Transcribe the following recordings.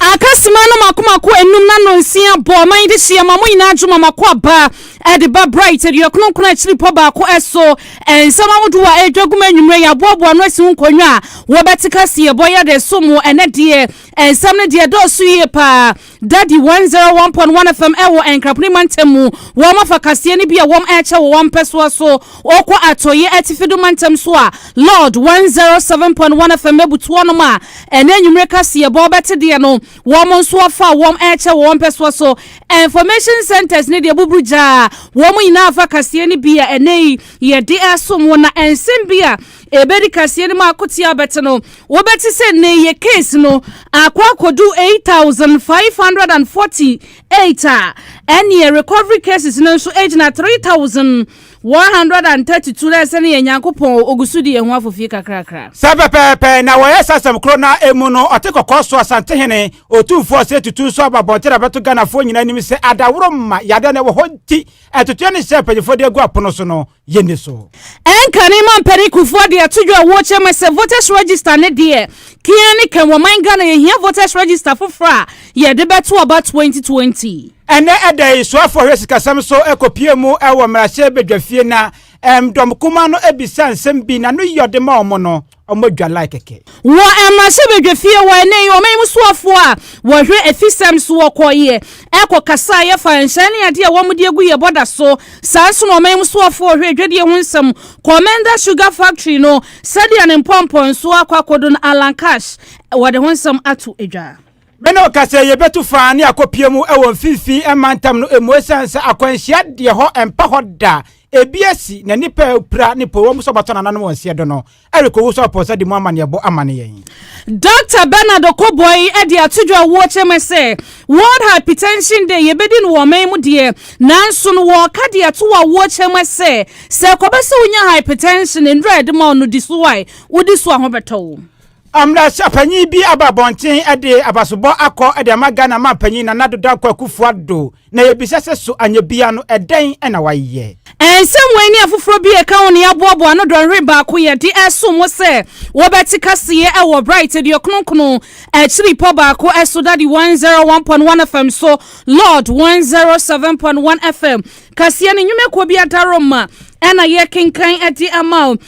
Akasima no mako mako enum na no nsia bɔ ɔman yi de hyia ma mo nyinaa dwo ma mako aba ɛde ba bright adua kronkron a akyiri pɔ baako ɛso nsɛm ahodoɔ a ɛredwa gum anwummerɛ yɛ aboaboa ano asi ho nkonnwa a wɔbɛte kaseɛ bɔ yɛ de so mo ɛnɛ deɛ nsɛm no deɛ dɔɔso yie paa dadi 101.1 fm ɛwɔ nkraponi mantam mu wɔn afa kaseɛ no bi a wɔn ɛkyɛ wɔ wɔn mpɛsoa so Wɔkɔ Atɔeɛ Atifi do mantam so a, Lord 107.1 FM bɛbutu wɔnom a ɛnɛ anwummere kaseɛbɔ wobɛte deɛ no, wɔn nso afa a wɔn ɛrekyɛ wɔ wɔn mpɛsoa so. Information centres ne deɛ buburu gyaa wɔn nyinaa fa kaseɛ no bi a ɛnɛ yi yɛde resom wo na nsɛm bi a ɛbɛdi kaseɛ no mu akoteɛ abɛte no, wobɛte sɛ nnɛ yi yɛ case no akɔ akɔdu 8,548 a, ɛnneɛ recovery cases no nso gyina 3,000. One hundred and thirty two na ɛsɛ no yɛ Nyankopɔn o, ogu so di yɛn ho afofie kakrakra. Saa pɛpɛɛpɛ na wɔyɛ saa asɛm koro no ara emu no, ɔte kɔkɔɔ so Asantehene, Otumfoɔ a ɔsɛe tutu nso aba abɔnten abɛto Ghanafoɔ nyinaa anim sɛ adaworo mma yadeɛ a na ɛwɔ hɔ nti atuteɛ no hyɛ a mpanyinfoɔ de agu apono so no yɛnni so. Ɛnkane Mampanin Kufuor de ato dwa a ɛwɔ kyɛm sɛ voters register no deɛ, kea ne kɛm wɔ man Ghana yɛhia voters register foforɔ a Yɛde bɛto aba 2020. Ɛnnɛ ɛda yi, soafoɔ hwɛ sikasɛm so kɔpie mu wɔ mmarahyɛ badwafie na ɛm dɔm kumaa no bisa nsɛm bi na no yɛ ɔde ma wɔn no, wɔn dwa like kɛkɛ. Wɔ mmarahyɛ badwafie hɔ ɛnnɛ yi, wɔn yi mu soafoɔ a wɔhwɛ afisɛm so wɔkɔeɛ ɛkɔ kasaeɛ fa nhyɛn ne adeɛ a wɔn de agu yɛ bɔda so. Saa nso na wɔn yi mu soafoɔ a wɔhwɛ adwadie ho nsɛm kɔɔ Menda Sugar Factory no sɛdeɛ ne mpɔmpɔnsoɔ akɔ akɔdo no Alan Cash wɔde ho nsɛm ato dwa. Meno ka sɛ yɛbɛtu fã ne akɔpie mu wɔ mfimfini mantam no mu ɛsiane sɛ akwanhyia deɛ hɔ mpa hɔ da, ebi asi na nnipa a apira ne po wɔn nso bɛtɔ nananom wɔn seɛ do no. Eric Owusu Aposa de mu amanneɛbɔ ama ne yɛn. Dɔkta Bernard Okoboy de ato dwa wɔ kyɛmɛ sɛ World Hypertension Day yɛbɛdi no wɔ ɔman mu deɛ nanso no wɔka de ato wɔ awoɔ kyɛmɛ sɛ sɛ ɛkɔba sɛ wonya hypertension nnuro a yɛde ma wo no di so a wodi so a ho bɛtɔ wo. Mmarahyɛpanyin bi aba abɔnten de abasobɔ akɔ de ama Ghana manpanyin Nana Addo Dankwa Akufo Addo, na yɛbisa sɛ so anyɛ biara no ɛdɛn na wayɛ? Nsɛm wei ne afoforɔ bi a ɛka ho na yɛaboaboa ano dɔnhwere baako yɛ de reso mo sɛ wobɛte kaseɛ wɔ Bright Aduokronkron akyiri pɔ baako so Daddy 101.1 FM so Lord 107.1 FM kaseɛ no nnwumakuo bi adaworoma na yɛrekenkan de ama wo.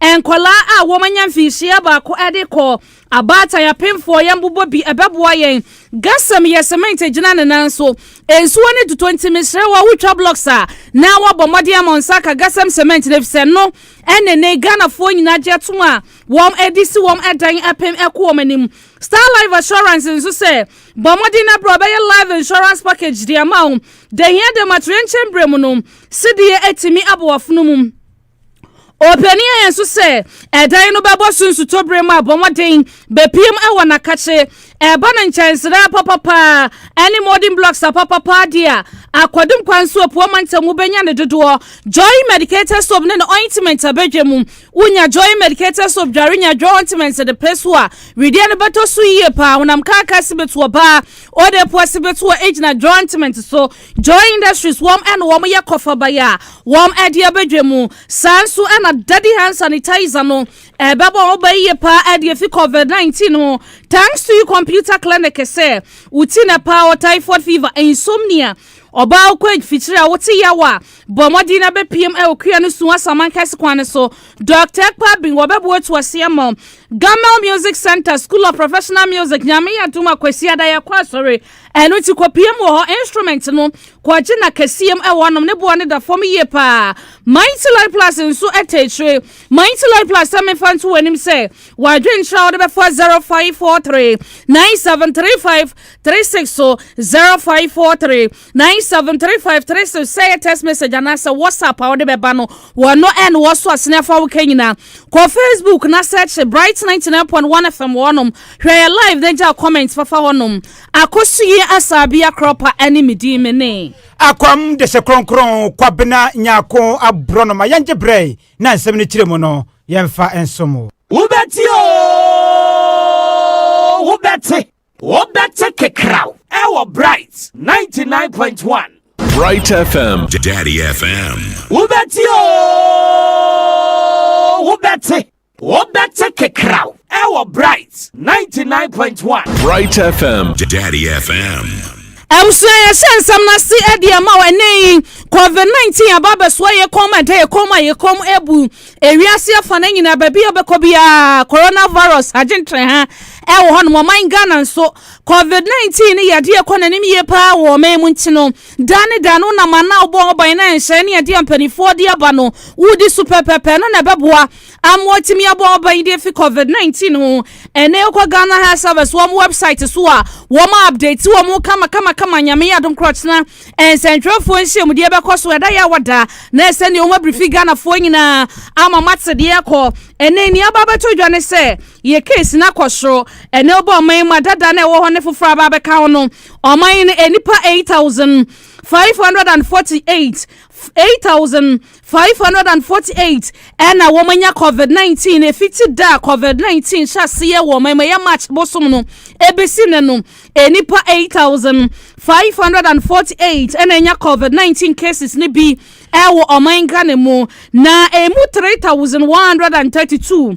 Nkwadaa a wɔanya mfinhyia baako de kɔ abaatan apemfoɔ yɛn bobɔ bi ɛbɛboa yɛn gasɛm yɛ cement gyina ne nan so nsuo ne tutɔ nti mesrɛ wo a wotwa blocks a na wabɔ mmɔden ama nsa aka gasɛm cement no efisɛ no ɛne ne ghanafoɔ nyinaa gye atom a wɔn adi si wɔn ɛdan apem ɛko wɔn anim star life assurance nso sɛ bɔ mmɔden na brɛ ɔbɛyɛ life insurance package de ama wo dehia de ma toyɛnkyɛn berɛ mu no sedeɛ atumi abɔ wafono mu Ɔpanin ayɛ nso sɛ ɛdan no bɛbɔ so nsutɔbere mu abɔ mmɔden bɛpiem wɔ n'akakye ɛba no nkyɛnsere apapapa ne modern blocks apapapa de a akwadum kwan so apua mantam mu bɛnya ne dodoɔ joy medicated soap ne ne ointment abɛdwa mu wonya joy medicated soap dware nya dwa ointment de pere so a wedeɛ no bɛtɔ so yie paa honam kaaka si bɛtoɔ baa ɔde poa si bɛtoɔ gyina dwa ointment so Joy Industries wɔn na wɔyɛ kɔfabae a wɔde abɛdwa mu. Saa nso na Daddy Hand Sanitizer no ɛbɛbɔ ho ba yie paa de afi COVID-19 ho. Thanks to you computer clinic sɛ woti na paa wɔ typhoid fever, insomnia, ɔbaa wokɔ age fikyiri a wote yaw a bɔ mmɔden na bɛpiem wɔ kua no su asaman kɛse kwan no so. Dr. Ekpa Bin wɔbɛboa atu ase ama Gamel Music Center, School of Professional Music, Nyame Adom a Kwasiada yɛkɔ asɔre Ɛno nti kɔpue mu wɔ hɔ, instrument no, kɔgye na kɛseɛ mu ɛwɔ nom, ne boɔ no da fam yie paa. Mighty Life Plus nso ɛtɛ akyire. Mighty Life Plus sɛ mefa nto w'anim sɛ, w'adwenkyerɛ a wode bɛfa 0543 9735 36 so, 0543 9735 36 sɛ ɛyɛ text message anaasɛ WhatsApp a wode bɛba no, wɔno ɛna wɔso asene afa wo ka nyinaa. Kɔ Facebook na sɛkye Bright 99.1 FM wɔ hɔnom. Hwɛ yɛ live na gya comment fafa hɔnom. Akosuyi Asabia Krɔpa ne me din me ne. Akwam de hyɛ kronkron Kwabena Nyarko aborɔnoma yɛngye berɛ na nsɛm no kyerɛ mu no yɛmfa nsom o. Wobɛte oo wobɛte. Wobɛte kekraw ɛwɔ Bright 99.1. Bright FM. Daddy FM. Wobɛte o, wobɛte. Wobɛte kekraw ɛwɔ Bright 99.1. Bright FM. Daddy FM. ɛmso yɛhyɛ nsɛm no ase ɛde ɛma wɔ ɛnɛ yi covid-19 aba abɛsoa yɛ kɔm ɛdɛ yɛ kɔm a yɛ kɔm ɛbu Ewiase afa no nyinaa, baabi a wobɛkɔ biara, coronavirus agye ntraha wɔ hɔnom. Ɔman Ghana nso, COVID-19 no yɛ adeɛ ɛkɔ n'anim yie paa wɔ ɔman mu nti no, daa ne daa no wonam ana a wobɔ ho ban na nhyɛe ne adeɛ a mpanimfoɔ de aba no wodi so pɛpɛɛpɛ no na ɛbɛboa ama watumi abɔ ho ban de afi COVID-19 ho. Ɛnɛ wokɔ Ghana Health Service wɔn website so a, wɔn update wɔn kamakamakama, Nyame yɛ adom korɔkyena. Nsɛntwerɛfoɔ nhyiamudeɛ bɛkɔ so ɛda yɛ a wɔda na ɛsɛ deɛ wɔn abiri fi Ghanafoɔ nyinaa ama mate deɛ ɛkɔ ɛnɛ nni aba abɛto dwa ne sɛ yɛ case no akɔ soro ɛnɛ wobɔ ɔman mu adada na ɛwɔ hɔ ne foforɔ aba abɛka ho no ɔman no nnipa 8548 8000 548 na wɔanya covid nineteen efiti da a covid nineteen hyɛ aseɛ wɔ ɔman mu ɛyɛ march bosom no ebesi nnɛ no nnipa eight thousand five hundred and forty eight na anya covid nineteen cases no bi ɛwɔ ɔman ghana mu na emu three thousand one hundred and thirty two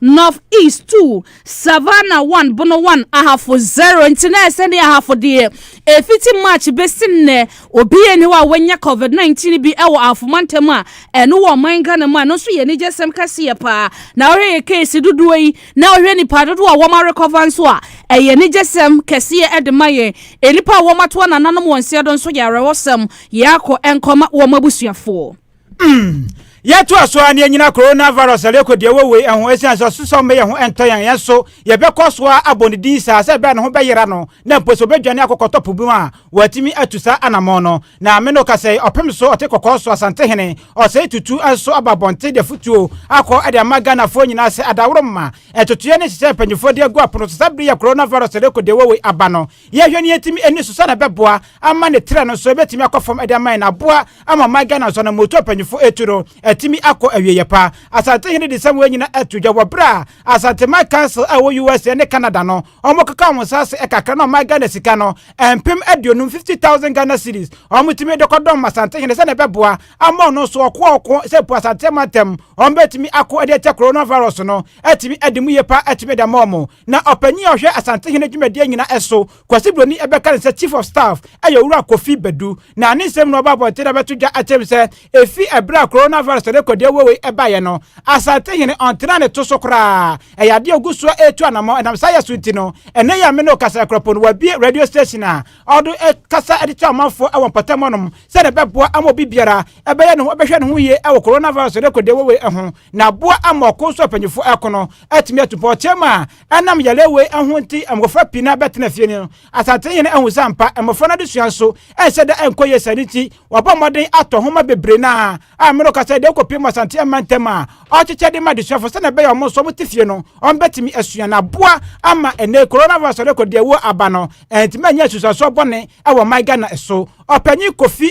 North East two, Savannah one, Bono one, Ahafo zero. Nti na ɛsɛ ne Ahafo deɛ efiti March besi nnɛ obi ani hɔ a wanya COVID-19 bi wɔ Ahafo mantam a ɛno wɔ ɔman Ghana mu a ɛno nso yɛ anigyesɛm kɛseɛ paa. Na wohwɛ yɛ case dodoɔ yi na wohwɛ nipa dodoɔ a wɔn arekɔva nso a ɛyɛ anigyesɛm kɛseɛ de ma yɛn. Nnipa a wɔn atoa nananom wɔn nseɛ do nso yɛ awerɛhosɛm. Yɛakɔ nkɔma wɔn abusuafoɔ. Mm. Yɛtoa so a na yɛnyina coronavirus a rekɔ deɛ wei ho ɛsiane sɛ ɔsosɔm bɛyɛ ho ɛntɔ yɛn yɛn so yɛbɛkɔ so a abɔ ne din saa sɛ ɛbɛyɛ ne ho bɛyera no na mpo sɛ ɔbɛdwane akɔkɔtɔ po mu a wɔatumi atu saa anammɔn no na me no ka sɛ ɔpem so ɔte kɔkɔɔ so Asantehene ɔsɛe tutu nso aba abɔnten de afotuo akɔ ɛde ama Ghanafoɔ nyinaa sɛ adaworo mma ɛtotoeɛ ne nhyehyɛ mpanyinfoɔ de agu apono so saa bere yɛ coronavirus rekɔ deɛ wei aba no Yɛhwɛ nea etumi ani so sɛnea ɛbɛboa ama ne trɛ no nso ebetumi akɔ fam de ama yɛn aboa ama ɔman Ghana nso anammuotu a mpanyimfo etu no atumi akɔ awieyɛ pa. Asantehene de nsɛm wei nyinaa ato dwa wɔ bere a Asanteman Council a ɛwɔ USA ne Canada no wɔkeka wɔn nsa ase kakra na ɔman Ghana sika no mpem aduonum, fifty thousand Ghana cedis, wɔtumi de kɔdɔm Asantehene sɛnea ɛbɛboa ama ɔno nso ɔko a ɔko sɛ mpo Asanteman ntam wɔbetumi ako de atia Coronavirus no atumi adi mu yie pa atumi de ama wɔn. Na ɔpanyin a ɔhwɛ Asantehene dwumadie nyinaa so, Kwasi Broni bɛka ne sɛ Chief of Staff yɛ Owura Kofi Badu. Na ne nsɛm no ɔbɔ abɔnten na bɛto dwa kyerɛ mu sɛ ɛfiri ɛberɛ a Coronavirus a rekɔ deɛ wowei baeɛ no, Asantehene ɔntenaa ne to so koraa. Ɛyɛ adeɛ a ɔgu so retu anammɔn. Ɛnam saa yɛ so nti no, ɛnnɛ yi a me ne wo kasa yi koraa mpo no, wabue radio station a ɔde kasa de kyerɛ amanfoɔ wɔ mpɔtam hɔnom sɛdeɛ ɛbɛboa ama obi biara bɛyɛ ne ho bɛhwɛ ne ho yie wɔ Coronavirus a rekɔ deɛ wowei ho na aboa ama ɔko nso a mpanyinfoɔ reko no atumi atu pɔkyɛ mu a ɛnam yare wei ho nti mmɔfra pii na bɛtena fie no asante yɛn ahu sɛ ampa mmɔfra no adesua nso ɛnhyɛ da ɛnkɔ yie sɛ ne nti wɔabɔ mmɔden atɔ nhoma bebree no a a mmerɛ kasa deɛ ɛkɔpie mu asante yɛn mantam a ɔkyekyɛ de ma adesuafo sɛnea ɛbɛyɛ ɔmo nso ɔmo te fie no ɔmo bɛtumi asua na aboa ama ɛnɛ coronavirus ɔde kɔ deɛ ɛwɔ aba no ɛntumi anyɛ asusuasoɔ bɔne ɛwɔ man Ghana so ɔpanyin Kofi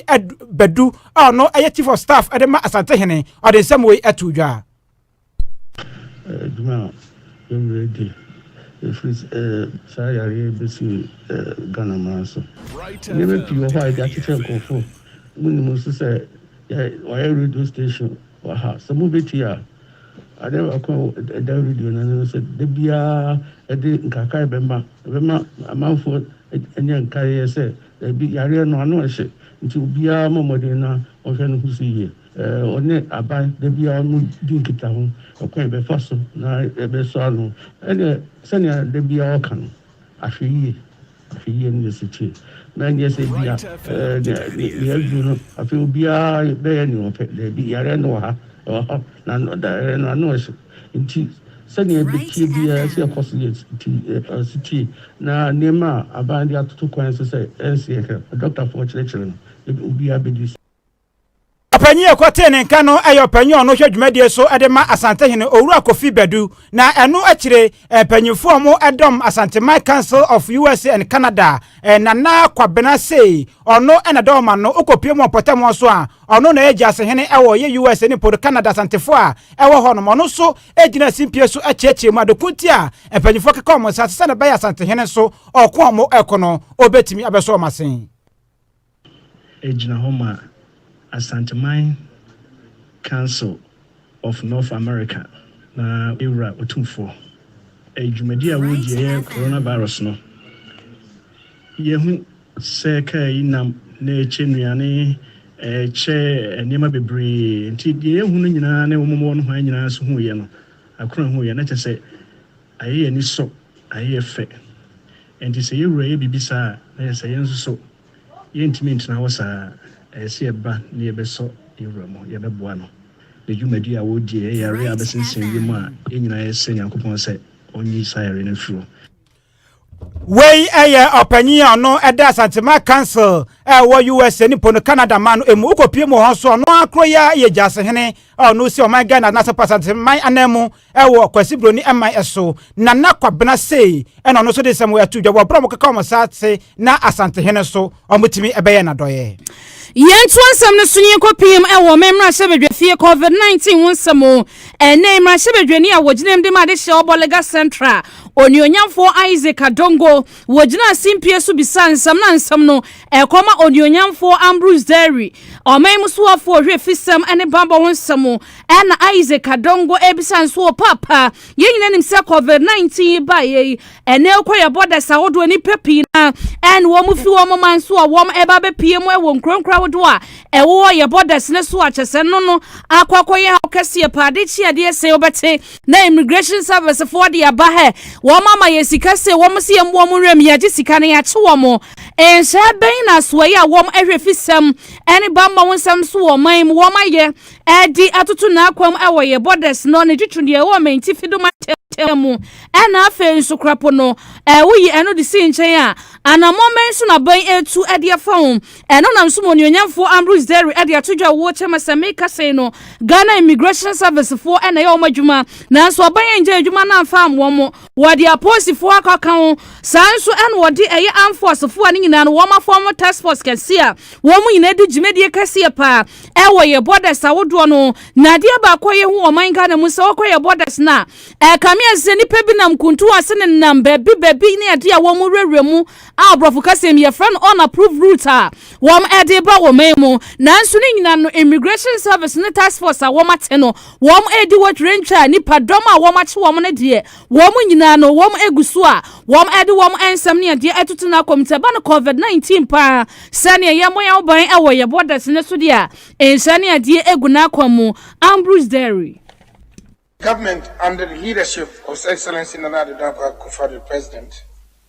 Badu a ɔno ɛyɛ chief of staff ɛde ma asante hene ɔde nsɛm wei ato dwa Adwuma a yɛnnyɛɛ di, ɛfiri sɛ saa yareɛ yi bɛsii Ghana man so. Nneɛma pii wɔ hɔ a yɛde akyekyɛ nkurɔfo. Monim nso sɛ wɔayɛ radio station wɔ ha. Sɛ mobɛtie a, adeɛ baako a ɛda radio no ano ne sɛ, da biara ɛde nkaekaeɛ bɛma. Ɛbɛma amanfoɔ anya nkaeɛ sɛ daabi, yareɛ no ano nhye. Nti obiara mmɔ mmɔden na ɔnhwɛ ne ho so yie. Wɔne aban da biara no di nkitaho ɔkwan a yɛbɛfa so na yɛbɛsɔ ano. Ɛnde, sɛnea da biara wɔka no, Ahwɛyiye, ahwɛyiye ne ne setie. Na ɛnyɛ sɛ ebia nea adu no, afei obiara bɛyɛ nea ɔpɛ. Dabi, yare no wɔ ha, ɛwɔ hɔ, na yare no ano hye nti, sɛnea yɛbɛtie biara, ɛsɛ sɛ yɛkɔ so yɛ setie. Na nneɛma a aban de atoto kwan so sɛ ɛnsɛ yɛhwɛ, adɔktafo a wɔkyerɛkyerɛ no, obiara bedi so. Ɔpanyin a ɛkɔtee ne nka no yɛ ɔpanyin a ɔno hwɛ dwumadie so de ma Asantehene Owura Kofi Badu, na ɛno akyire mpanyinfoɔ a wɔn ɛdɔm Asanteman Council of USA and Canada, Nana Kwabena Sei, ɔno na ɛdɔm ma no, wokɔpue mu wɔ mpɔtam hɔ so a, ɔno na ɛyɛ Gyasehene wɔ yɛ USA ne Podo Canada Asantefoɔ a ɛwɔ hɔ nom, ɔno nso gyina simpie so kyeɛkyeɛ mu, adeko nti a mpanyinfoɔ keka wɔn nsa ase sɛdeɛ ɛbɛyɛ Asantehene nso ɔko a wɔko no, ɔbɛtumi abɛsɔ wɔn ase. Egyina hɔ ma Asanteman Council of North America na Ewura Otumfoɔ. Ɛyɛ dwumadi a wɔredi ɛyɛ Coronavirus no. Yɛhu sɛ kaa yi nam na ɛkyɛ nnuane, ɛkyɛ nneɛma bebree, nti deɛ yɛhu no nyinaa ne wɔn a wɔwɔ nohoa nyinaa nso huiɛ no, Akron huiɛ no, na kyerɛ sɛ, Ayɛ yɛn ani so, ayɛ yɛn fɛ. Enti sɛ yɛn wura yɛ biribi saa a, na ɛsɛ sɛ yɛn nso so yɛrentumi ntena hɔ saa. Ɛsɛ sɛ yɛba na yɛbɛsɔ yɛn wura mu, yɛbɛboa no. Ne dwumadi a wɔredi yɛ yare a abɛsensɛn wiem a, yɛn nyinaa yɛsrɛ Nyankopɔn sɛ ɔnyi saa yare no mfiri hɔ. Wei yɛ ɔpanyin a ɔno ɛda Asantema Council a ɛwɔ USA ne Pono Canada man no mu. Wokɔpie mu wɔ hɔ nso ɔno ara koro yi ara yɛ gyasehene a ɔno si ɔman Ghana na Asɛmpa Asanteman anan mu wɔ Kwasi Broni man so. Nana Kwabena sei ɛna ɔno nso de nsɛm ɛto dwa wɔ berɛ a wɔkeka wɔn sa ase na Asantehene nso wɔtumi ɛbɛyɛ n'adɔeɛ. Yɛntoa nsɛm no so na yɛnkɔpiem wɔ me mmarahyɛbadwafie COVID-19 ho nsɛm o. Ɛnnɛ yi, mmarahyɛbadwani a wɔgyinaam de ma adehyeɛ wɔ Bɔlega Central, Onuonyamfoɔ Isaac Adongo, wɔgyinaa simpie so bisaa nsɛm na nsɛm no ɛkɔma Onuonyamfoɔ Ambrose Dairy, ɔman mu soafoɔ ɔhwɛ afisɛm ne bammɔ ho nsɛm ɛna Isaac Adongo ɛrebisa nso wɔ paapa. Yɛn nyinaa nim sɛ Covid 19 yi baeɛ yi, Ɛnɛ kɔ yɛbɔ dasa ahodoɔ nnipa pii na ɛne wɔn fi wɔn man so a wɔn ɛba bɛpie mu ɛwɔ nkuro nkura ahodoɔ a ɛwɔ yɛbɔ dasa no so a kyɛ sɛ no no akɔ akɔyɛ haw kɛseɛ paa de kyi adeɛ sɛ wɔbɛte na immigration service foɔ de aba hɛ wɔn ama yɛ sika sɛ wɔn si yɛn wɔn nwura mu yɛagye sika no yɛakye wɔn nhyɛ bɛn na asoɛyɛ a wɔn ɛhwɛ fi sɛm ɛne bammɔ ho nsɛm so wɔn man mu wɔn ayɛ Ɛde atoto n'akwam wɔ yɛ borders no ne twitwi deɛ ɛwɔ Mantifi do mantam mu ɛna afei nso Krapo no woyi ɛno de si nkyɛn a anammɔn bɛn so na bɛn ɛtu ɛde afa ho ɛno nam so ma onuonyamfoɔ Ambrose Dairy ɛde ato dwa wɔ kyɛma sɛ meka sei no Ghana Immigration Service foɔ ɛna ɛyɛ wɔn adwuma nanso ɔbɛn yɛn gya adwuma na amfa amoa mo wɔde apolisifoɔ akɔ aka ho saa nso ɛna wɔde ɛyɛ amfoɔsefoɔ a ne nyinaa no wɔn afɔ wɔn task force kɛse a wɔn nyinaa di dwumadie kɛseɛ paa ɛwɔ yɛ borders ahodoɔ no na adeɛ baako a yɛhu ɔman ghana mu sɛ wɔkɔ yɛ borders no a ɛkame ayɛ sɛ nnipa bi nam kuntu ase ne nam baabi baabi ne adeɛ a wɔn wurawura mu a aborɔfo kasɛm yɛfrɛ no unapproved route a wɔn ɛde ba wɔ man mu nanso ne nyinaa no immigration service ne task force a wɔn ate no wɔn ɛdi wɔ twerɛntwa a nipa dɔm a wɔn akye wɔn no deɛ Wɔn nyinaa no, wɔn agu so a wɔde wɔn nsɛm ne adeɛ atutu no akɔm. Sɛ ɛba no COVID-19 paa, sɛdeɛ yɛmmɔ yɛn ho ban wɔ yɛn borders no so deɛ a, nhyɛ ne adeɛ agu no akɔm mu. Ambrose Derry. Government under the leadership of His Excellency Nana Addo Dankwa Akufo-Addo, President,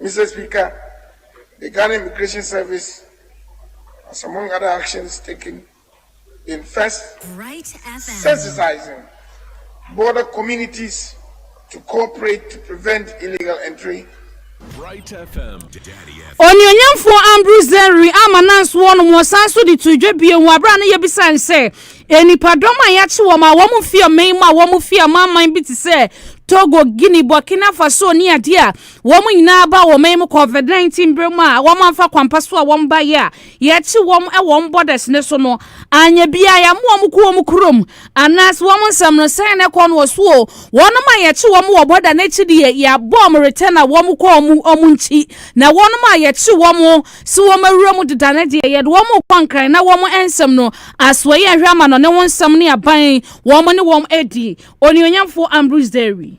Mister Speaker, the Ghana Immigration Service has among other actions taken been first sensitizing border communities to cooperate to prevent illegal entry Onuonyamfoɔ Ambrose Zerry ama nansoɔ nom wɔsan so de too dwa bio wɔ abere a na yɛbisa no sɛ nnipadɔm a yɛakye wɔn a wɔn fi ɔman mu a wɔn fi amanaman bi te sɛ Togo, Guinea, Burkina Faso ne adeɛ a Wɔn nyinaa ba wɔ ɔman mu COVID-19 bere mu a wɔamfa kwampa so a wɔbaeɛ a yɛakyi wɔn wɔ wɔn borders no so no anyɛ biara. Yɛammo wɔn kɔ wɔn kurom anaasɛ wɔn nsɛm no sɛn na ɛkɔ no wɔ so o. Wɔnom a yɛakyi wɔn wɔ border no akyi deɛ, yɛabɔ wɔn return a wɔkɔ wɔn wɔn nkyi. Na wɔnom a yɛakyi wɔn sɛ wɔawura mu deda no deɛ, yɛde wɔn rekɔ Nkran na wɔn nsɛm no, Asoɛeɛ Nhwɛ Amanɔne ho nsɛm ne aban wɔn ne wɔn adi. Onuonyamfoɔ Ambrose Derry.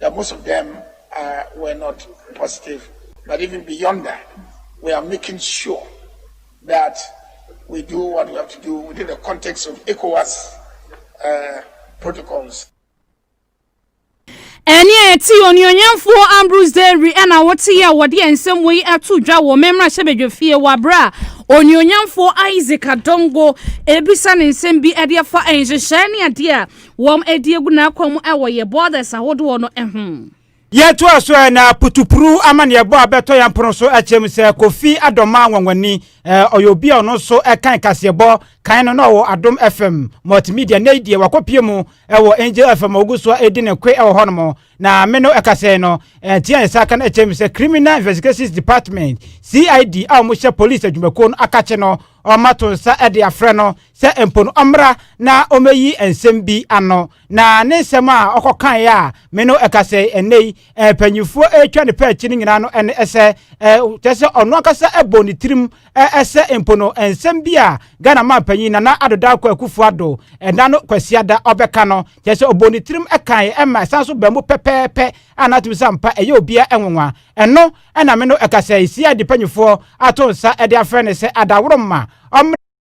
That most of them are were not positive but even beyond that we are making sure that we do what we have to do within the context of ECOWAS uh, protocols. ɛne a ɛte onuonyamfoɔ ambrose dairy ɛna wote yɛ a wɔde yɛn nsɛm wɔ yi ato dwa wɔ mmɛmmra hyɛ badwa fie wɔ aberɛ a onuonyamfoɔ isaac adongo ebisa ne nsɛm bi ɛde afa nhyehyɛe ne adeɛ a Wɔn adi agu n'akwan mu wɔ yɛ borders ahodoɔ no ho. Yɛtoa so ɛ na putupuru amanneɛbɔ a bɛtɔ yɛn pono so kyerɛm sɛ Kofi Adoma Anwanwani ɛ ɔyɛ obi a ɔno nso kan kaseɛbɔ kan no na ɔwɔ Adom FM Multimedia nnɛ yi deɛ wakɔpie mu wɔ Angel FM a ɔgu so a ɛdi ne koe wɔ hɔnom na me no ɛkasa yi no ntia ne saa ka no kyerɛm sɛ Criminal Investigations Department CID a wɔhyɛ police adwumakuo no akakye no ɔma to nsa de afrɛ no sɛ mpo no ɔmmra na ommeyi nsɛm bi ano, na ne nsɛm a ɔkɔkaeɛ a me ne wo ɛka sɛ ɛnnɛ yi mpanimfoɔ retwa ne pɛ akyi no nyinaa no ne sɛ, kyerɛ sɛ ɔno ankasa bɔɔ ne tirim sɛ mpo no nsɛm bi a Ghana manpanyin Nana Addo Dankwa Akufo-Addo, ɛnna no Kwasiada, ɔbɛka no, kyerɛ sɛ ɔbɔɔ ne tirim kaeɛ ma ɛsan nso baa mu pɛpɛɛpɛ a na atom sɛ ampa ɛyɛ obiara nwonwa. Ɛno na me ne wo ɛka sɛ CID mpanimfoɔ ato nsa de afrɛ no sɛ Adaworo mma ɔmmra.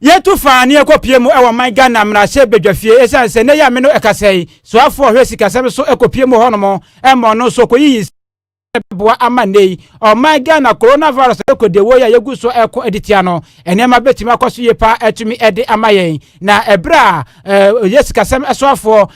Yɛtu fa ne yɛkɔpie mu wɔ man Ghana mmarahyɛ badwafie ɛsiane sɛ nnɛ yɛ a me no ɛkasɛi soafoɔ ɔhwɛ sikasɛm so ɛkɔpie mu hɔnom ɛma ɔno nso ɔkɔyiyi sika ɛbɛboa ama nnɛ yi ɔman Ghana coronavirus ɛkɔdiawuo yi a yɛgu so ɛko de tia no nneɛma bɛtumi akɔ so yie paa ɛtumi ɛde ama yɛn na ɛberɛ a ɛyɛ sikasɛm soafoɔ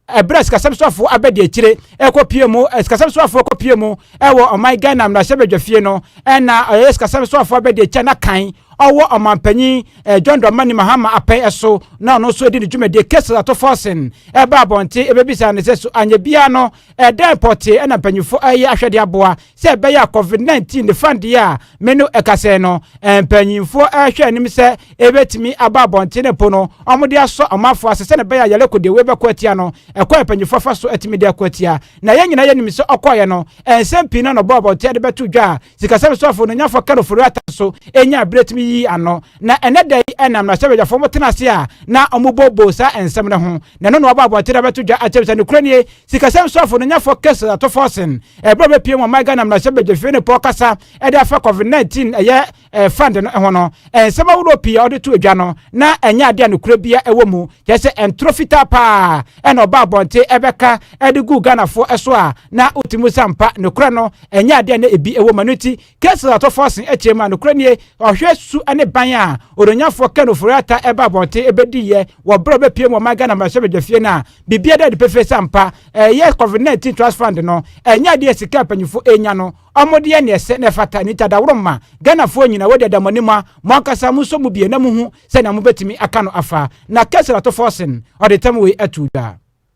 ɛberɛ a sikasɛm soafoɔ abɛdi akyire ɛkɔpie mu sikasɛm soafoɔ kɔpie mu ɛwɔ ɔman ghana mmarahyɛbadwafie no ɛna ɔyɛ sikasɛm soafoɔ abɛdi akyire na kan ɔwɔ ɔmanpanyin eh, john dɔmani mahama apɛn ɛso na ɔno nso di ne dwumadie kesa ato fɔsen ɛba abɔnten ɛbɛbisa ne sɛ so anyɛ biara no ɛdɛn pɔtee ɛna mpanyinfoɔ ɛyɛ ahwɛde aboa sɛ ɛbɛyɛ a covid nineteen ne fan deɛ a me no ɛkasɛɛ no mpanyinfoɔ ɛrehwɛ anim sɛ ɛbɛtumi aba abɔnten mpo no wɔn de asɔ ɔmanfoɔ ase sɛ ne bɛyɛ a yɛlɛ ko deɛ wɔbɛko atia no ɛkwan mpanyinfoɔ afa so atumi de ako atia na yɛn nyinaa yɛnim sɛ ɔkɔɔyɛ no nsɛm pii na ɔbɔ abɔnten de bɛto dwa a sikasɛm soafo no nyafo kɛrofo rata so ɛnya abirɛtumi yi ano Na ɛnnɛ da yi ɛnam mmarahyɛbadwafoɔ mo tena ase a na ɔmo bɔ boo saa nsɛm no ho na ɛno na waba abɔnten abɛto dwa akyerɛ me sɛ nokorɛ nie sikasɛm soafo no nyɛfoɔ Case Atoforsen ɛberɛ a ɔbɛpue mu ɔman Ghana mmarahyɛbadwafie no pɔ kasa ɛde afa Covid 19 ɛyɛ ɛɛ fund no ho no nsɛm ahoroɔ pii a ɔde to dwa no na ɛnyɛ adeɛ a nokorɛ bia ɛwɔ mu kyerɛ sɛ ɛntoro fitaa paa ɛna ɔba abɔnten ɛbɛka ɛde gu Ghanafoɔ ɛso a na wotumi sa mpa nokorɛ no ɛnyɛ adeɛ a na ebi ɛwɔ mu ɛno nti Kessler tɔ fo asen akyire mu a nokorɛ nie, ɔhwɛ su ne ban a Odonyafoɔ Ken Ofori Atta ɛba abɔnten ɛbɛdiiɛ wɔ berɛ a ɔbɛpue mu ɔman Ghana mmarahyɛbadwafie no a biribiara da adi pefee sɛ ampa ɛyɛ Covid 19 Trust Fund no ɛnyɛ adeɛ a sika a mpanyinfoɔ ɛrenya no wɔde yɛ nea ɛsɛ na ɛfata nti adaworoma Ghanafoɔ nyina wɔde ada mo anim a mo ankasa monsɔ mu bie na mohu sɛnea mobɛtumi aka no afa na Kessler tɔ fo asen ɔde tam wei ato dwa.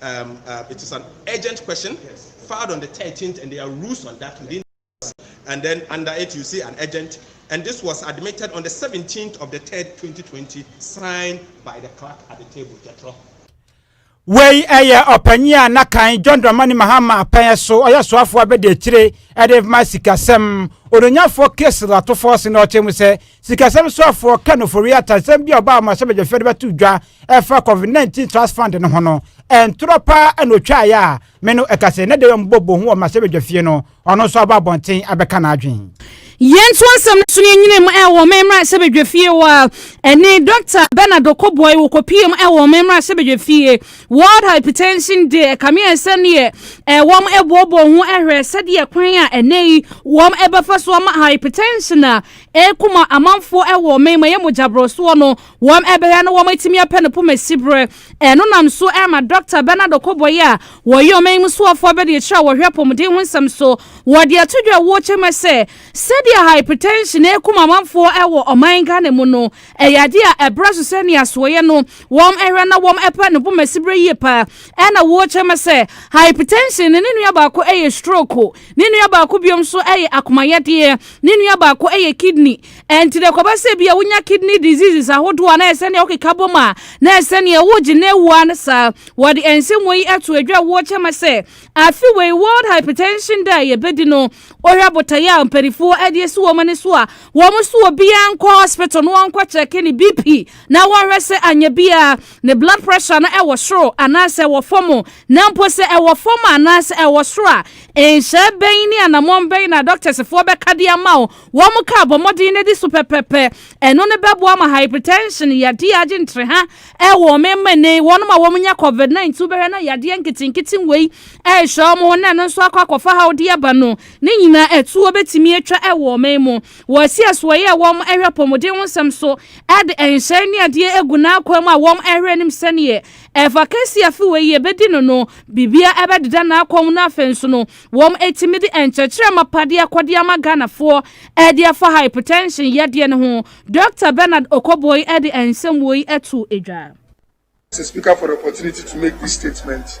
um, uh, it is an urgent question filed on the 13th, and there are rules on that within. And then under it, you see an urgent, and this was admitted on the 17th of the 3rd, 2020, signed by the clerk at the table, Jethro. wei ɛyɛ ɔpanyin a na kan john dramani mahama apɛn so ɔyɛ soafoɔ abɛdi akyire ɛde ma sikasɛm ononyafoɔ kesi latofoɔ se na ɔkyerɛ mu sɛ Sikasɛm soafoɔ Ken Ofori Atta nsɛm bi a ɔbaa mmarahyɛbadwafie de bɛto dwa ɛfa Covid 19 Trust Fund no ho no, ntorɔ paa na ɔtwaeɛ a me no ɛka sɛ na Dewam bɔ bohu wɔ mmarahyɛbadwafie no, ɔno nso aba abɔnten abɛka n'adwene. Yɛntoa nsɛm no so na yɛnyina mu wɔ ɔman mmarahyɛbadwafie hɔ a ɛne Dɔkta Bernard Okoboy wɔkɔpie mu wɔ ɔman mmarahyɛbadwafie World Hypertension Day ɛkameɛ sɛdeɛ wɔn ɛboɔboɔ ho ɛhwɛ sɛdeɛ kwan a ɛnɛ yi wɔn ɛbɛfa so ama hypertension a Ɛko ma amanfoɔ ɛwɔ ɔman mu ɛyɛ mogya borɔsoɔ no wɔn ɛbɛhwɛ na wɔn atumi apɛ no poma siberɛ ɛno nam so ɛma Dɔkta Bernard Okoboye a wɔyɛ ɔman mu soafoɔ abadiakyire a wɔhwɛ apɔmuden ho nsɛm so wɔde ato dwa ɛwɔ kyɛ mu sɛ sɛdeɛ hypertension ɛko ma amanfoɔ ɛwɔ ɔman Ghana mu no ɛyɛ adeɛ a ɛbrɛ so sɛ nea soɔyɛ no wɔn ɛhwɛ na wɔn ɛpɛ no poma siberɛ yie paa ɛna wɔkyɛ mu sɛ hypertension ne ne nua baako ɛyɛ stroke Ne nua baako bio nso yɛ akomayɛdeɛ. Ne nua baako yɛ kidney. Ɛnti deɛ kɔbɛ sɛ bi a wonya kidney diseases ahodoɔ a na ɛsɛ neɛ wokeka bom a na ɛsɛ neɛ wogye na ewu a ne saa. Wɔde ɛnsɛmua yi ɛto adwa wɔ kyɛma sɛ afe wei World Hypertension Day a yɛbɛdi no wohwɛ abotaeɛ a mpanifoɔ ɛde asi wɔn ani so a wɔn so obiara nkɔ hospital na wɔnkɔ kyɛke ne BP na wɔnhwɛ sɛ anyɛ biara ne blood pressure no ɛwɔ soro anaasɛ wɔ fam Na mpo sɛ ɛwɔ fam anaasɛ ɛwɔ soro a, nhyɛɛ bɛn ne anammɔn bɛn na dɔktɛsfoɔ bɛka de ama wo? Wɔn kaa bɔ mmɔden na di so pɛpɛpɛ. Ɛno ne bɛboa ma hypertension yadeɛ agye ntreha wɔ wɔn mmɛne. Wɔn a wɔnya covid 19 bɛhwɛ na yadeɛ nketenkete wei rehyɛ wɔn ho na ɛno nso akɔ akɔfa haw de aba no, ne nyinaa atuo bɛtumi atwa wɔ wɔn mu. Wɔasi asoɔyɛ a wɔn hwɛ apɔmuden ho nsɛm so de nhyɛɛ ne adeɛ agu n'akwan mu a wɔn hwɛ anim sɛdeɛ Ɛfa kɛse afe wei yɛbɛdi no no, biribiara ɛbɛdeda n'akwan mu na afei nso no, wɔn ɛtumi de nkyerɛkyerɛ mapa de akɔde ama Ghanafoɔ ɛde afa hypertension yadeɛ no ho. Dɔkta Bernard Okoboyi ɛde nsɛm woi ɛtoo dwa. As a speaker for the opportunity to make this statement,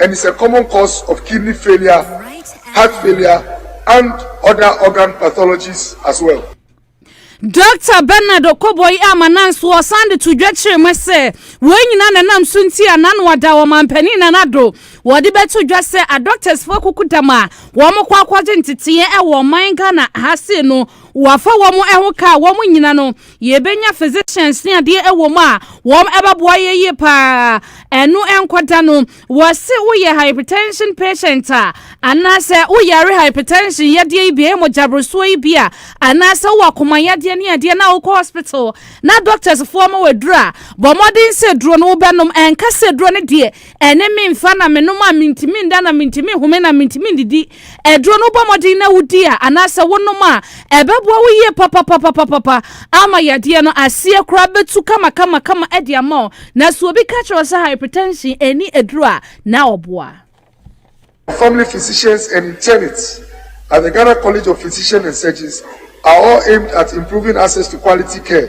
and is a common cause of kidney failure, heart failure and other organ pathologies as well. Dɔkta Bernard Okoboi a Mananso ɔsan de to dwa kyerɛ mu sɛ wɔn nyinaa na nam so nti a n'ano ada wɔ mampanin Nana Addo wɔde bɛto dwa sɛ adɔktɛsfo akukudam a wɔkɔ akɔgye nteteeɛ wɔ ɔman Ghana ha sei no wɔafa wɔn ho kaa wɔn nyina no Yɛbɛnya physicians ne adeɛ ɛwɔ mu a wɔn ɛbɛboa yɛ yie paa ɛno ɛnkɔda no wɔse woyɛ hypertension patient a anaasɛ woyare hypertension yadeɛ yi bi ɛyɛ mogyaborosoɔ yi bi a anaasɛ wowɔ akoma yadeɛ ne adeɛ na wokɔ hospital na doctors foɔ ma waduro a bɔ mmɔden sɛ duro no wobɛnom ɛnka sɛ duro no deɛ ɛne memfa na menom a mentumi nda na mentumi home na mentumi ndidi Aduro no wobɔ mmɔden na wodi a anaasɛ wonom a, ɛbɛboa wo yie papapapapapa ama yadeɛ no aseɛ koraa bɛtu kamakamakama de ama wo. Na sɛ obi ka kyerɛ wo sɛ hypertension nni aduro a, na ɔboa. Family physicians and internists at the Ghana College of Physicians and Surgeons are all aimed at improving access to quality care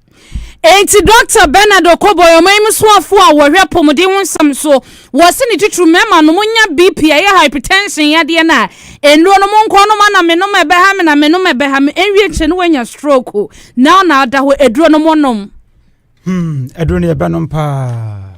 Enti Dɔkta Bernard Okoboy, ɔmanmu soafo a wɔhwɛ apɔmuden ho nsɛm so, wɔ se ne titiriw mmarima no, monya BP a ɛyɛ hypertension yadeɛ no a, nnuro no monkɔ nom ana menom a ɛbɛha me na menom a ɛbɛha me, ɛnwie kyɛ no wanya stroke, na ɔna ada hɔ, aduro no monom. Hmm, aduro no yɛbɛnom paa.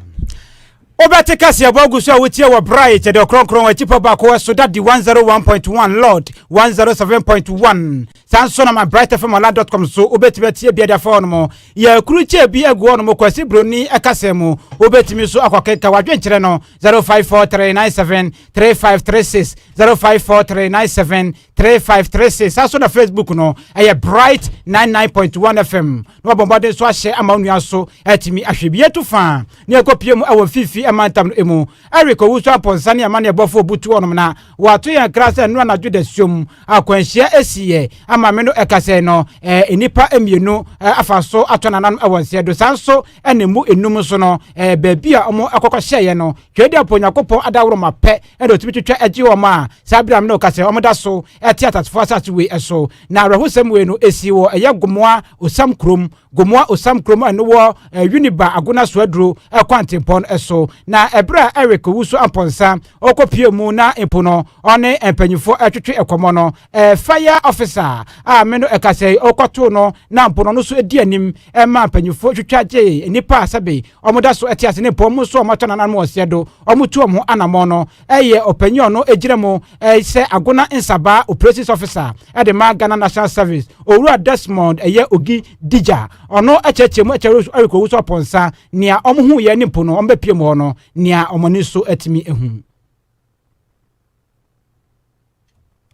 Wobɛte kaseɛbɔ agu so a wotie wɔ bere a yɛkyɛ dɛ ɔkrɔnkrɔn wɔ akyipɔ baako wɔ so da di 101.1 lord 107.1 saa nso na ma bright fm online dot com so wobɛtumi atie bi adafa hɔnom yɛ akuru kyɛ bi agu hɔnom kwasi broni ɛkasɛ mu wobɛtumi nso akɔkenka wadwenkyerɛ no 0543973536 054397 three five three six saa so na facebook no ɛyɛ bright nine nine point one fm na wɔbɔ mmɔden so ahyɛ ama wo nua so ɛtumi ahwɛ bi yɛtu fa ne ɛkɔ pie mu ɛwɔ mfimfini ɛma ntam no emu eric owusu apɔnsa ne ɛma ne ɛbɔfo obutu ɔnom na wɔato yɛn kra sɛ ɛno anadwo da suom akwanhyia esiyɛ ama me no ɛkasɛ no ɛɛ nnipa mmienu afa so atɔ nananom ɛwɔ nseɛ do saa nso ɛna mu enum so no ɛɛ baabi a wɔn akɔkɔ hyɛeɛ no twɛdi apɔ nyakopɔn adaworoma pɛ ɛna otumi twitwa agye wɔn a saa abiram no ka sɛ wɔn da so ɛte atasefo asase wei ɛso na awerɛhosɛm wei no esi wɔ ɛyɛ gomoa osam kurom gomoa osam kurom ɛno wɔ eh, uniba agona so aduro ɛkwantempɔn eh, ɛso na ɛberɛ a eric wusu ampɔnsa ɔkɔpie mu na mpo no ɔne mpanyinfoɔ ɛtwetwe eh, ɛkɔmɔ no ɛɛ fire officer a me no ɛka sɛ ɔkɔto no na mpo no ɔno so edi anim ɛma mpanyinfoɔ twitwa gye nnipa a sɛbe wɔda so te ase ne mpɔn mu so a wɔatɔ nananom ɔsɛ do, wɔtu wɔn ho anamɔn no yɛ ɔpanyin a ɔno gyina mu sɛ Agona Nsabaa Operations Officer de ma Ghana National Service, Owura Desmond Ɛyɛ Ogi Digya. Ɔno kyerɛkyerɛ mu kyerɛ Eric Owusu Aponsa nea wɔhuiɛ ne mpo no wɔbɛpue mu hɔ no, nea wɔn ani so atumi ahu.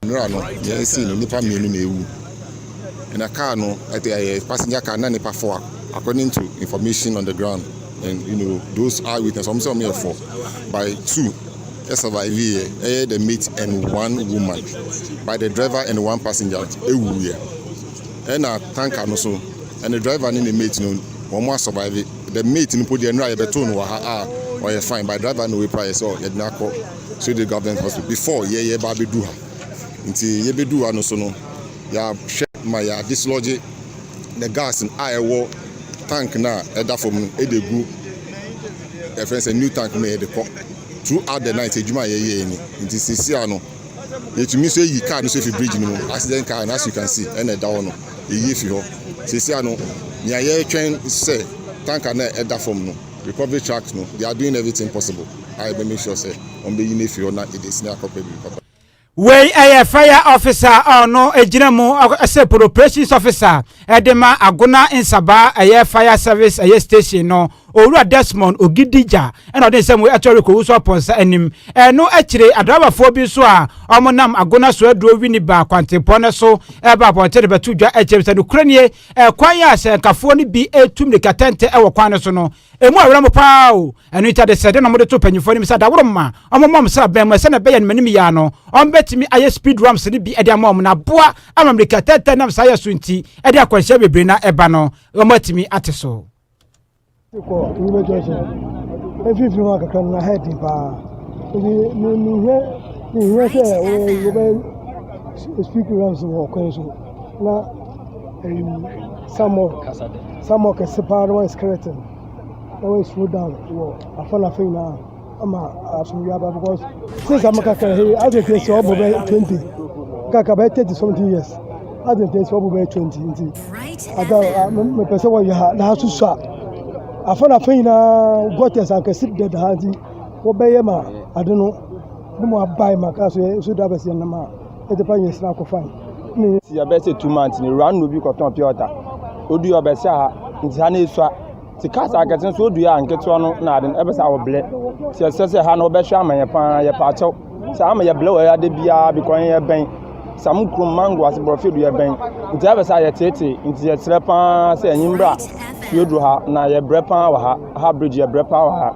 Mmerɛ a no deɛ ɛsii no nnipa mmienu na awu ɛna car no ɛte ɛyɛ passenger car na nnipa four according to information on the ground and you know those eye witness wɔn sɛ wɔn yɛ four by two ɛsurvive yɛ ɛyɛ the mate and one woman by the driver and one passenger ɛwu yɛ ɛna tanker no so and the driver ne ne mate no wɔn asurvive the mate no po deɛ nnura yɛbɛtoo no wɔ ha a ɔyɛ fine by driver na wɔapira yɛ sɛ yɛde no akɔ. So the government hospital before yɛ yɛ ba abɛduru ha nti yɛ bɛduru ha no so no yɛahwɛ ma yɛ dislodge the gas a ɛwɔ tank no a ɛda fam no ɛde gu ɛfɛn sɛ new tank no yɛde kɔ throughout the night adwuma a yɛyɛ ni nti sisi a no yɛtumi nso ayi car no so fi bridge no mu accident car no as you can see ɛna ɛda hɔ no yɛyi fi hɔ sisi a no nea yɛtwɛn sɛ tank a na ɛda fam no Recovery track no they are doing everything possible a yɛbɛ make sure sɛ wɔn bɛ yi no afi hɔ na yɛde asi akɔ pɛ biribi papa. Wei yɛ fire officer a ɔno gyina mu sɛ polo operations officer de ma Agona Nsabaa ɛyɛ fire service ɛyɛ station no Owura Desmond Ogidija na ɔde nsɛm wei ɛto rekɔwu so apɔnsa anim. Ɛno akyire adrabafoɔ bi nso a wɔnam Agona so aduro Winneba kwantempɔn no so ɛreba abɔnten rebɛto dwa kyerɛ sɛ nokorɛ nie ɛkwan a sɛnkafoɔ no bi tu mmirika tɛntɛ wɔ kwan no so no ɛmu awerɛ mo paa o ɛno nti adesɛdeɛ na mode to mpanyimfoɔ anim sɛ adaworo mma ɔmoma ɔm sraban mu sɛnea ɛbɛyɛ no manim yɛ a no ɔmbɛtumi ayɛ speed rams no bi de ama ɔm na aboa ama mmirika tɛntɛ nam saa yɛ so nti ɛde akwanhyia bebree na ɛba no ɔmatumi ate so Kɔ Yobe Junction. Every few months, come na head in pa. If you you you hear you hear say oh you be speak rams wɔ kwan so na ɛyi samɔ samɔ kɛse paa na wɔn skeleton na wɔn slow down wɔ afɔ na afɔ nyinaa. ama asomdwe aba because since I'm kakra he as it is ọbọ bẹ twenty kakra bẹ thirty something years as it is ọbọ bẹ twenty nti ada mepɛ sɛ wɔyɛ ha na asoso a afa na afa nyinaa gutters ankɛse deda ha nti wɔbɛyɛ ma ade no ne mu abae ma kaa so yɛ so da bɛsɛ nam a ɛde pa nyɛ sra kɔ fan ne yɛ bɛsɛ two months ne wura no bi kɔtɔn pure water odu yɛ ɔbɛsɛ ha nti ha na esua Nti cars akɛse nso odua a nketewa no na ade no ɛbɛ sɛ awɔ blɛ ti ɛsɛ sɛ ha no ɔbɛhwɛ ama yɛ paa yɛ paa kyɛw sɛ ama yɛ blɛ wɔ yɛ ade biara bi kɔn yɛ bɛn sam kurom mango ase borɔfo du yɛ bɛn nti ɛbɛ sɛ ayɛ tete nti yɛ kyerɛ paa sɛ ɛnyi mbra fie duro ha na yɛ brɛ paa wɔ ha ha bridge yɛ brɛ paa wɔ ha.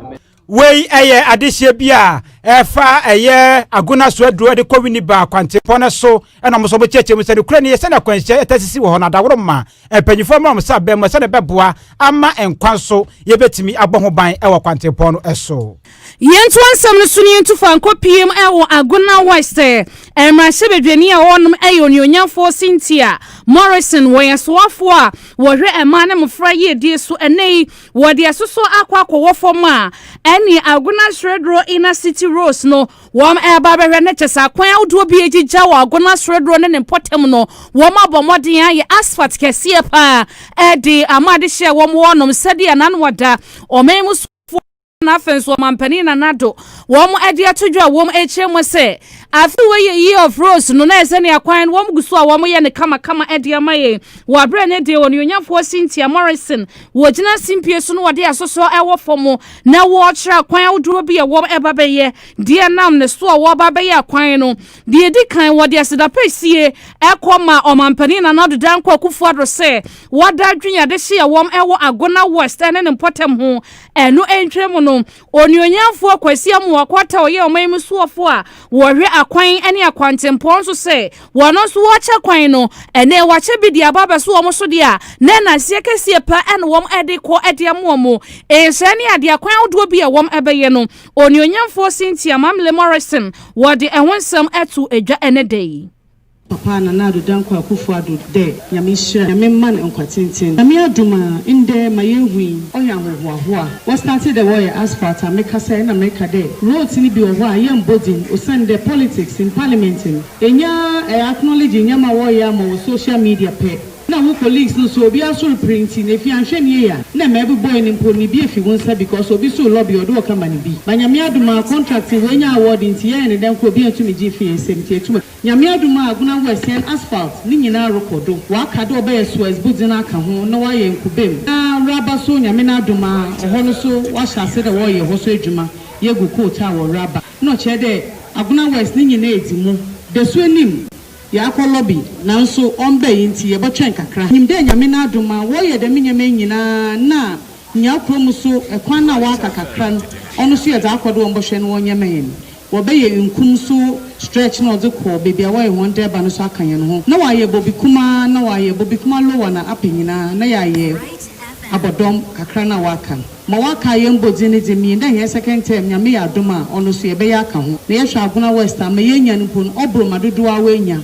Wei yɛ adehyeɛ bi a ɛfa ɛyɛ Agona Soaduro de kɔ Winneba kwantempɔn no so ɛna wɔn nso wɔkyerɛkyerɛ mu sɛ nokorɛ no yɛ sɛdeɛ akwanhyia ɛtɛ sisi wɔ hɔ no adaworo ma mpanyinfoɔ mmra wɔn nsa abɛn mu sɛdeɛ ɛbɛboa ama nkwa nso yɛbɛtumi abɔ ho ban ɛwɔ kwantempɔn no ɛso. Yɛnto asɛm no so na yɛntu fa nkɔ pm ɛwɔ Agona West mmarahyɛbadwani a ɔnom ɛyɛ onuonyamfoɔ Cynthia Morrison wɔ yɛn soafoɔ a wɔhwɛ mmaa ne mmofra yiedie so ɛnɛ yi Wɔde ɛsoso akɔ akɔwɔ fam a, ɛne Agona Seredoro Inner City Roads no, wɔreba abɛhwɛ no kyɛ sɛ akwan ahodoɔ bi a ɛgyigya wɔ Agona Seredoro ne ne mpɔtam no, wɔabɔ mmɔden ayɛ asphalt kɛseɛ pa ara de ama adehyeɛ wɔ hɔnom sɛdeɛ Nana Addo, ɔmanmusofoɔ no na afei nso Ɔmampanin Nana Addo, wɔde ato dwa a wɔkyerɛ mu sɛ afe wei yɛ Year of Roads no na ɛsɛ ne akwan no wɔgu so a wɔyɛ no kamakama de ama yɛn wɔ aberɛ ne deɛ Onuonyamfoɔ Cynthia Morrison Wɔgyina simpie so na wɔde asosɔ wɔ fam na wɔrekyerɛ akwan ahodoɔ bi a wɔba bɛyɛ deɛ nam ne so a wɔba bɛyɛ akwan no. Deɛ ɛdi kan, wɔde aseda pa sie kɔ ma Ɔmampanin Nana Addo Dankwa Akufo-Addo sɛ wada adwene a ɛde hye a wɔwɔ Agona West ne ne mpɔtam ho. Ɛno ntwam no, Onuonyamfoɔ Kwasi Amoah Quartah a ɔyɛ ɔman mu soɔfoɔ a wɔhwɛ akwan ne akwantempɔn nso sɛ wɔn nso wɔkyɛ kwan no ɛnɛ wɔakyɛ bi de aba abɛso wɔn so deɛ a na nnaseɛ kɛseɛ paa na wɔn de kɔ de ama wɔn nsɛɛ ne adeɛ akwan ahodoɔ bi a wɔn bɛyɛ no Onuonyamfoɔ Cynthia Mamle Morrison wɔde ɛho nsɛm ato dwa ɛnɛ da yi. Papa Nana Addo Dankwa Akuffo Addo dɛ Nyame nhyira Nyame mma no nkwa tsentsen. Nyame adom a ndɛ ma yeehu yi ɔyɛ ahohoahoa. Wɔ startee dɛ wɔyɛ asphalt a me kasa yi nna mereka dɛ roads no bi wɔ hɔ a yɛmmbɔ dzin osiandɛ politics in parliament no ennya eh acknowledge nyɛma a wɔyɛ ama wɔ social media pɛ na wo colleagues no so obiara so repere ntsi na efi annhwɛ no yie a nna ma ebobɔe no mpo no bi efi wo nsa because obi so lobby ɔde wɔ company bi ba Nyame adom a contract no woennya award ntsi yɛyɛ no dɛn koraa obi enntum nngye mmfi hɛn nsam ntsi etum Nyame adom a Aguna West hɛn asphalt ne nyina rokɔ do, wɔaka dɛ ɔbɛyɛ Suez Bu dzen aka ho na wɔayɛ nkube mu na Raba so Nyame n'adom a ɔhɔ no so wɔahyɛ ase dɛ wɔreyɛ hɔ so edwuma yegu coat a wɔ Raba na ɔkyerɛ dɛ Aguna West ne nyina edzi mu dasu enyim. Yɛakɔ lobby nanso ɔmmbae ntsi yɛbɔtwɛn kakra. Minyim dɛ Nyame n'adom a wɔreyɛ dɛm nyɛma yi nyina na nyia ɔkora mu so kwan no a wɔaka kakra no ɔno so yɛ dza akɔ do wɔmbɔhwɛ no wɔnyɛma hɛn Wɔbɛyɛ wenkum so stretch na ɔdze kɔ beebi a wɔyɛ hɔn dɛɛba no so akã hɛn ho, na wɔayɛ bobikuma na wɔayɛ bobikuma lower na upper nyina na yɛayɛ abɔdɔm kakra no a wɔakã no. Ma wɔakaa hɛn mbɔdzin no dze mii ndɛ hɛn second term Nyame yɛ adom a ɔno so yɛbɛyɛ akã ho. Na yɛhwɛ Agona West a ma yeenya no mpo no ɔbor ma dodow ara woenya.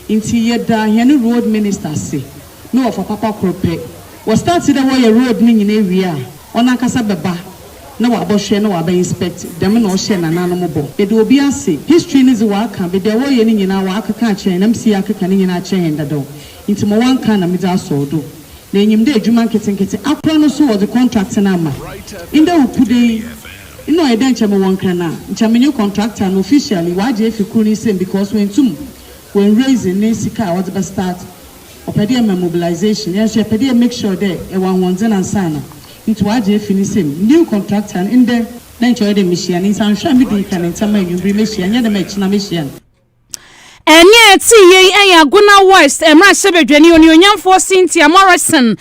Ntsi yɛda hɛn road minister ase ne wɔfa papa kor pɛ. Wɔstart dɛ wɔyɛ road no nyina ewie a ɔnankasa bɛba na ɔabɔhwɛ na ɔaba inspect, dɛm na ɔhyɛɛ nanaanom bɔ. Meda obi ase, history no dze ɔaka, but dza wɔreyɛ no nyina ɔakeka akyerɛ hɛn na mesi yɛakeka ne nyina akyerɛ hɛn dadaw ntsi ma ɔannka na medze asɔw do. Na inyim dɛ edwuma nketsenketse akora no so wɔdze contract no ama. Ndɛ wo ku dɛ yi, nna ɔyɛ dɛ nkyɛ mowɔ nkran a, nkyɛ menye contractor no officially ɔagye efi kor ne nsamu because oenntum ɔannraise ne sika a ɔdze bɛstart. Ɔpɛ dɛ yɛma mobilisation, hɛn so yɛpɛ dɛ yɛ make sure dɛ yɛwɔ ahoɔndzen ansaana. Ntsi ɔagye efi ne nsamu. New Contractor, no, ndɛ, na nkyɛ ɔyɛ dɛ mehyia no. Ntsi annhwɛ a midii kan ntsɛm ma ewimbir yi mehyia no, nnyɛ dɛ ma ekyena mehyia no. Ɛnne a ɛte yei yɛ Agona West mmarahyɛbadwani onuonyamfoɔ Cynthia Morrison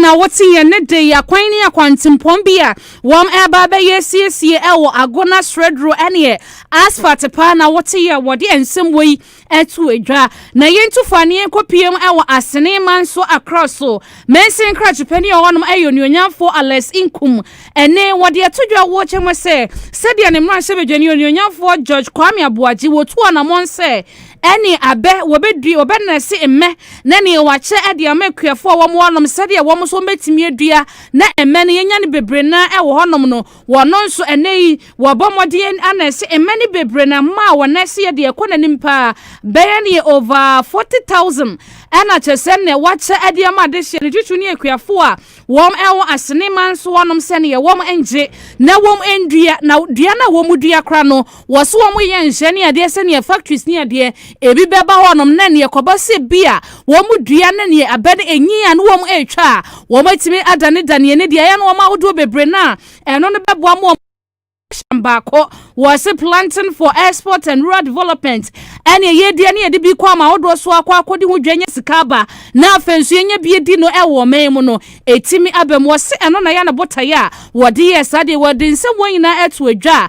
na wote yɛn nne de akwan ne akwantempɔn bi a wɔreba abɛyɛ asiesie wɔ Agona Sredro ne Asfalt paa na wote yɛ wɔde nsɛm wei to adwa na yɛntu fa ne yɛnkɔ pm wɔ asene man so akra so mansin krakyepɛni a ɔnom ɛyɛ onuonyamfo alex nkum ɛne wɔde ato dwa wɔ kyɛ mu sɛ sɛdeɛ ne mmarahyɛ badwani onuonyamfoɔ george kwame aboagye wɔtu anamɔn sɛ ɛne abɛ wɔbɛdui wɔbɛnɛse mmɛ na ne wɔakyɛ ɛde ama akuafoɔ a wɔn wɔnom sɛdeɛ wɔn nso wɔbɛtumi adua na mmɛ no yɛnya no bebree na ɛwɔ hɔnom no Wɔno nso, ɛnnɛ yi, wɔbɔ mmɔden a na ɛse mmɛ ne bebree na mma a wɔn nan ase yɛ deɛ ɛkɔ n'anim paa bɛyɛ no yɛ over 40,000 ɛna kyerɛ sɛ na wɔakyɛ ade ama adehyeɛ no twitwi ne akuafoɔ a wɔn ɛwɔ Asene man so hɔnom sɛdeɛ wɔn nngye na wɔn nnua na dua no a wɔdua kora no Wɔse wɔn yɛ nhyɛ ne adeɛ sɛ neɛ factories ne adeɛ ebi bɛba hɔ nom na neɛ kɔba sɛ bi a wɔn dua ne neɛ abɛ no ɛnyin a ne wɔn ɛtwa a wɔn atumi adane daneɛ ne deɛ ayɛ no wɔn ahodoɔ bebree no a ɛno no bɛboa ma wɔn ahyɛn baako wɔse planting for export and rural development ɛne ɛyɛ dua ne yɛde bi kɔ ama ahodoɔ so akɔ akɔde ho dwa nya sika aba na afei nso yɛnya bi di no ɛwɔ ɔman mu no ɛtumi abam wɔse ɛno na yɛ no botaeɛ a wɔde yɛ saa deɛ wɔde nsɛm wɔn nyinaa ɛto adwa a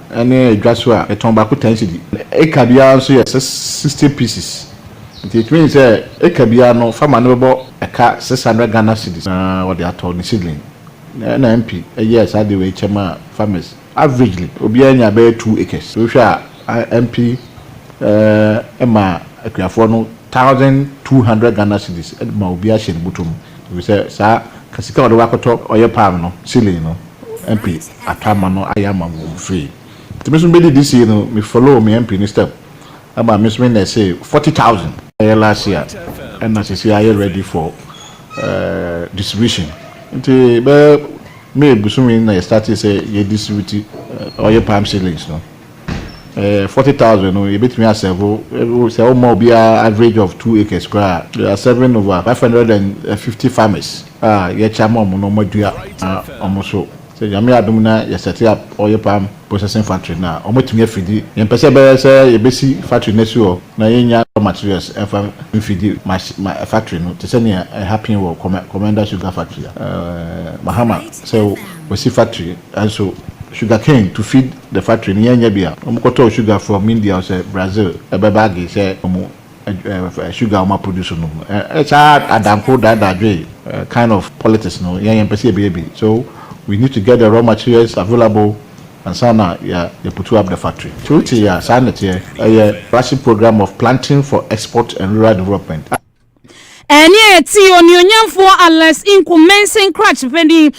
ne dwa so a, yɛtɔn baako ten cedi. Eka biara nso yɛ six sixty pieces, nti etumi yɛ sɛ eka biara no farmer no bɛbɔ ɛka six hundred Ghana cedis na ɔde atɔ ne seedling. Na ɛna MP yɛɛ saa ade wei kyɛ maa farmers. Averagely, obiara nyaa bɛyɛ two acres. Nti wohwɛ a, MP eh, maa akuafoɔ no thousand two hundred Ghana cedis de ma obiara hyɛ ne bɔtɔ mu, efiri sɛ saa ka sika a ɔde bɛkɔtɔ ɔyɛ palm no seedling no. MP ato ama no ayɛ ama mo fee nti me nso me bɛdi this year no me follow me MP no step ɛma me nso me nɛse forty thousand ɛyɛ last year ɛna sisi ayɛ ready for distribution nti bɛyɛ May bosome na yɛ startee sɛ yɛ distribute ɔyɛ palm seedlings no. Eh, forty thousand no, yɛbɛtumi asɛvo, sɛ woma obiara average of two acres koraa a, they are serving over five hundred and fifty farmers a yɛkyɛ ama wɔn na wɔadua wɔn nso. Sɛ Nyame yɛ adom na yɛ set up oil palm processing factory no a, wɔatumi afidi. Yɛmpɛ sɛ ɛbɛyɛ sɛ yɛbɛsi factory no asi hɔ na yɛnnya raw materials mfa mfidi mach, factory no, te sɛ nea ɛ happen wɔ Commander Sugar Factory a, eh, Mahama, sɛ wɔasi factory nso sugarcane to feed. The factory no yɛ nyɛ bia ɔmo kɔ tɔɔ sugar from India ɔsɛ Brazil ɛbɛ bagi sɛ ɔmo ɛɛ sugar a ɔmo aproduce no mu ɛɛ saa adanko daadaa dwe ɛɛ kind of politics no yɛn yɛn pɛ sɛ yɛ bɛyɛ bi so we need to get the raw materials available ansa na yɛ yɛ putu up the factory so wo te yɛ a saa na ɛteɛ ɛyɛ flagship program of planting for export and rural development a. Ɛnne a ɛte Onuonyamfoɔ Alex Nko Mensing Cratch panin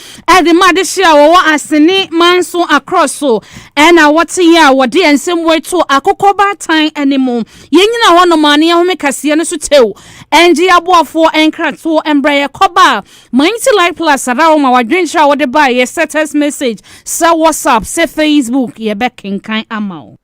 de ma adehye a wɔwɔ Asene manso Akorɔ so na wɔte yɛ a wɔde nsɛm wei to akokɔ baatan anim. Yɛnyina hɔ nom a ne yɛhome kaseɛ no so kyɛw. Ɛngye aboafoɔ nkratoɔ mbrɛ yɛkɔ ba a Mainti Life Plus ara wo ma wadwenkyerɛ a wode baeɛ sɛ text message, sɛ WhatsApp, sɛ Facebook yɛbɛkenkan ama wo.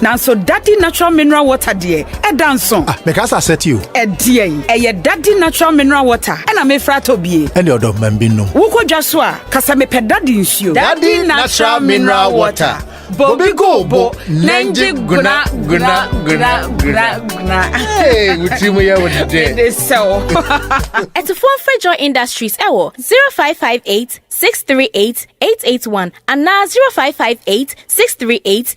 Nanso Dadi natural mineral water deɛ ɛda nso. Ah, meka sɛ asɛte o. Ɛdeɛ yi, ɛyɛ Dadi natural mineral water ɛna mefra atɔ bie. Ɛne ɔdɔ ma bi nom. Wokɔ dwa so a, kasa mepɛ Dadi nsuo. Dadi natural mineral water. Bobi go bo, nɛngye guna guna guna guna guna. Hey, wuti mu yɛ wo dɛ. Ɛde sɛw. Ɛtifoɔ mfrɛ Joy Industries ɛwɔ 0558 638 881 anaa 0558 638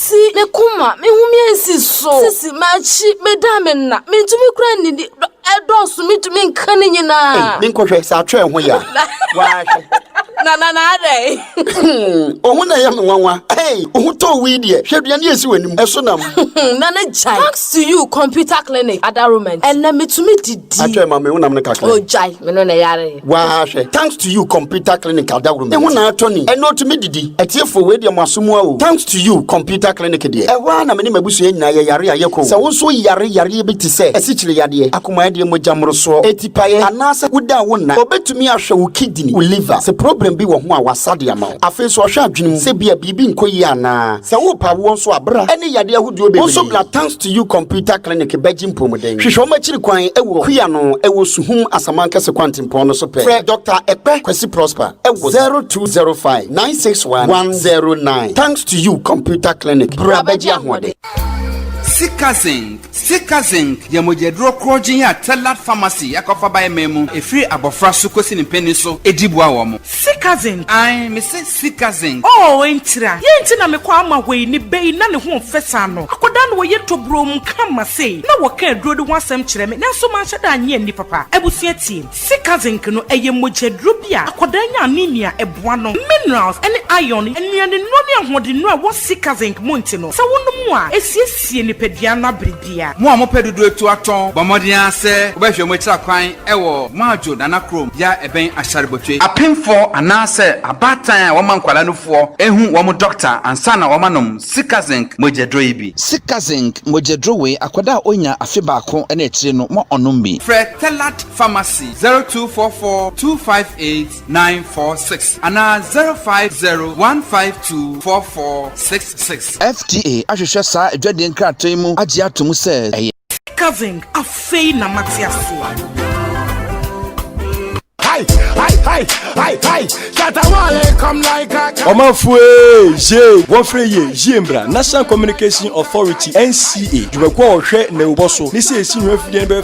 Ti me koma, me ho me ansi so. Sisi m'akyi, meda me nna. Mentumi kura nnidi, dɔ ɛdɔɔso, mentumi nka ne nyinaa. Ei, menkɔhwɛ, sɛ atwerɛ ho yɛ a, waahwɛ. Na na na adɛn? Ɔho na ɛyɛ me nwanwa. Ei, wo ho tɔɔ wo yi deɛ, hwɛ aduane a ɛsi w'anim, ɛso nam. Na na gyae. Thanks to you, computer clinic, Ada Romans, ɛnnɛ metumi didi. Atwerɛ ma me, wonam no kakra yi. Oh, gyae, me no na ɛyare. Waa hwɛ. Thanks to you computer clinic adaworo mate. Eho na atɔ ni. Ɛnɛ otumi didi. Atiefo wei deɛ mo aso mua o. Thanks to you computer clinic deɛ. Ɛhɔ ara na me ne m'abusua nyinaa yɛ yare a yɛkɔ o. Sɛ wo nso yare yareɛ bi te sɛ asikyire yadeɛ, akomayadeɛ, mogya mmorosoɔ, atipaeɛ anaasɛ wodaa wo nna, obetumi ahwɛ wo kidini, wo liver. Sɛ problem bi wɔ ho a wasa de ama wo. Afei nso ɔhwɛ adwene mu sɛ ebia biribi nkɔ yie anaa. Sɛ worepɛ awoɔ nso a bra ne yadeɛ ahodoɔ bebree. Wo nso bra thanks. to you computer clinic bɛgye mpɔmuden hwehwɛ wɔn akyiri kwan wɔ kuya no ɛwɔ suhum asamankɛse kwantempɔn no so pɛ frɛ dr ɛkpɛ kwasi prosper ɛwɔ zero two zero five nine six one one zero nine thanks to you computer clinic bra bɛgye ahoɔden. sika zinc sika zinc yɛ mogyaduro korɔgyen a tɛlad pharmacy akɔfa baeɛ man mu ɛfiri abɔfra so kɔsi ne mpanin so ɛdi boa wɔn. sika zinc ae mese. sika zen. Oh entira yei nti na me kɔ ama hɔ yi ne bɛ yi na ne ho nfɛ saa no akɔdaa no wɔyɛ tɔbroo mu ka ma sei na wɔka aduro no ho asɛm kyerɛ me nanso manhyɛ da annye anni papa abusua tie sika zinc no ɛyɛ mogya duro bi a akɔdaa nya anemia ɛboa no minerals ɛne iron nnuane nnuro ne ahoɔdennuro a ɛwɔ sika zinc mu nti no sɛ wonom a ɛsiesie nipadua no abere dea. Mo a mopɛ dodoetu atɔn, bɔ mmɔden ara sɛ wobɛhwehwɛ mo akyira kwan wɔ Moadjo Nana Krom bea a ɛbɛn Asharibotwe. Apemfo anaasɛ abaatan a wɔma nkwadaa nufoɔ hu wɔn dɔkta ansa na wɔanom Sikazinc mogyaduro yi bi. Sikazinc mogyaduro wei, akwadaa a ɔnya afe baako ne akyire no, ma ɔnom bi. Frɛ Tellat Pharmacy zero two four four two five eight nine four six anaa zero five zero one five two four four six six. FDA ahwehwɛ saa adwadie nkrataa yi mu agye ato mu sɛ ɛyɛ. Cousin, afei na mate aseɛ. ɔmanfoɔ ye wɔfrɛ yɛ yie mbra national communication authority nca dwumakuo a ɔhwɛ na ɛwobɔ so ne sɛ ɛsi nwuma fidie no bɛyɛ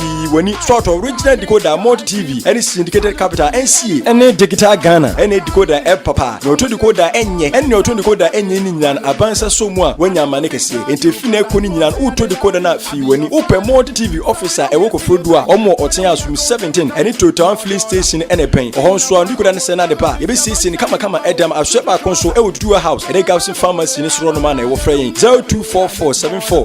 Yi w'ani sɔɔtɔ original decoder multi tv ɛne syndicated capital nsie ɛne digital ghana ɛne decoder ɛb papa na ɔtɔ decoder ɛnyɛ ɛne ɔtɔ decoder ɛnyɛ ne nyinaa no abansa sɔ mu a wanya amane kɛseɛ nti fi na ɛkɔ ne nyinaa no wotɔ decoder no a fii w'ani wopɛ multi tv office a ɛwɔ kɔforodu a ɔmo wɔ ɔten asom 17 ɛne totown filling station ɛna ɛbɛn ɔhɔ nso a decoder no sɛ no ade pa a yɛbɛsiesie no kamakama ɛdam asoɛ baako nso ɛwɔ duduwa house ɛne gabson pharmacy ne sorɔ no ma na ɛwɔ frɛ yɛn 024474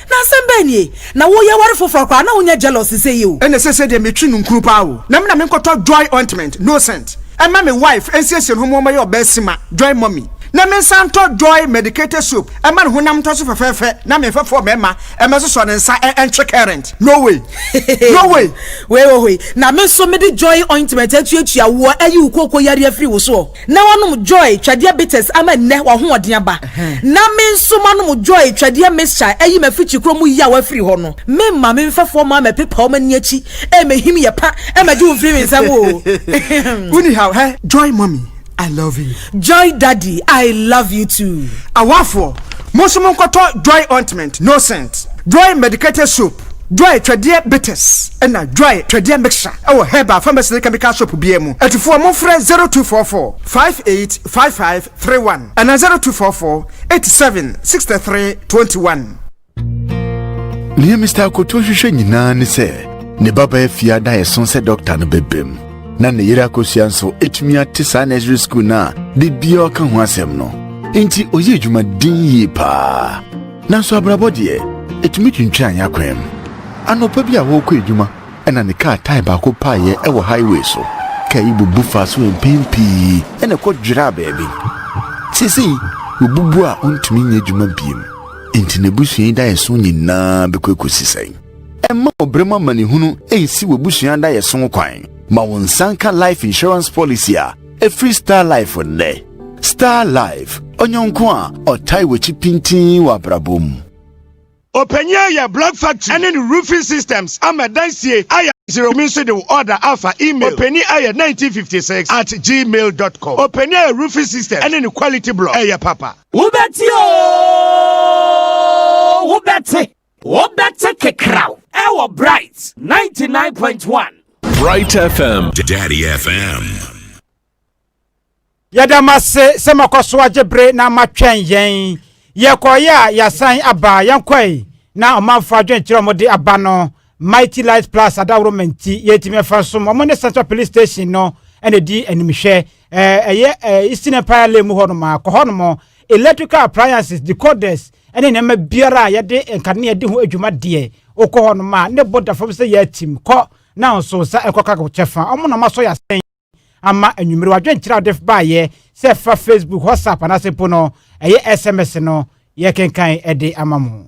Na asɛm bɛn nie? Na wo yɛ ware foforɔ koraa na wo nyɛ jealous sɛ yi o. Ɛna sese deɛ metwi nunkunu paa o. Na me na me nkɔtɔ joy ointment, no scent, ɛma me wife ɛnsiesie ne ho ma ɔmmɛyɛ ɔbaa sima, joy mummy. Na me nsa ntɔ joy medicated soap ɛma ne honam ntɔ so fɛfɛɛfɛ na me nfa fɔɔ mɛɛma ɛmɛ sosɔ ne nsa ɛ ɛntwe current. No way! No way! Wei wɔ hɔ yi. Na me nso mede joy ointment atuatua woɔ ɛyi wo kooko yareɛ firi wo soɔ. Na wɔnom joy twɛdeɛ bitters ama nnɛ w'ahoɔden aba, na me nso manom joy twɛdeɛ mixture ayi m'afikyi korɔ mu yaw afiri hɔ no. Me mma me mfɛfoɔ mmaa mɛpepa wɔn ani akyi ɛmɛhim yɛ pa ɛmɛgye wo mfiri me nsam oo ehem. Wo ni haw hɛ joy mummy I love you. Joy daddy I love you too. Awafoɔ, mo nso monkɔtɔ joy ointment, no scent, joy medicated soap. Dry Twɛdeɛ Bitters na Dry Twɛdeɛ Mixture wɔ Herbal Pharmacy ne Chemical Shop biara mu. Atufoɔ momfrɛ 0244 585531 anaa 0244 87 63 21. Nea Mister Akoto hwehwɛ nyinaa ne sɛ ne babaa fi ada a ɛso sɛ dɔkta no bɛbam, na ne yere akosua nso atumi ate saa nursery school no a da biara ɔka ho asɛm no. Enti ɔyɛ adwuma den yie paa. Nanso abrabɔ deɛ, ɛtumi twintwan yɛn akwan mu. Anɔpa bi a wɔrekɔ adwuma na ne kaa tae baako paeɛ wɔ highway so. Kaa yi bubu faa so mpɛn pii na ɛkɔ dwiraa baabi. Seesei wabubu a ɔntumi nyɛ adwuma bio. Enti n'abusua yi daeɛso nyinaa bɛkɔ akɔsi sɛn? Mma ɔbrɛ mu amanehunu nsi w'abusua daeɛso kwan. Ma wo nsa nka life insurance policy a Ɛfiri Star Life nnɛ. Star Life, ɔnyɔnko a ɔtae w'akyi pintinn wɔ abrabɔ mu. Ɔpanyin a yɛ block factory ɛne ne roofing systems ama dansie ayɛ zero me nso de wo order afa email ɔpanin ayɛ nineteen fifty six at gmail dot com ɔpanin ayɛ roofing systems ɛne ne quality block ɛyɛ papa. Wobɛte oo wobɛte. Wobɛte kekraw ɛwɔ Bright 99.1. Bright FM. Daddy FM. Yɛda mo ase sɛ moakɔ so agye bere na moatwɛn yɛn. Yɛkɔeɛ a yɛasan aba, yɛnkɔe na ɔmanfo adwenkyerɛ a wɔde aba no, Mighty Light Plus adaworoma nti, yɛntumi mfa nsom wɔn ne Central Police Station no na ɛdi animhwɛ. Ɛyɛ Eastern Empire Lane mu hɔnom a, kɔ hɔnom, electrical appliances, decoders, ɛne nneɛma biara a yɛde nkanea di ho adwuma deɛ wokɔ hɔ nom a ne bo da fam sɛ yɛatim kɔ na nso nsa ɛkɔka ko kyɛfa ɔmo na ɔmo asɔ yɛ asɛn ama anwummere wadwenkyerɛ a wode baayɛ sɛ ɛfa facebook whatsapp anaasɛ mpo no ɛyɛ sms no yɛkenkan ɛde ama mo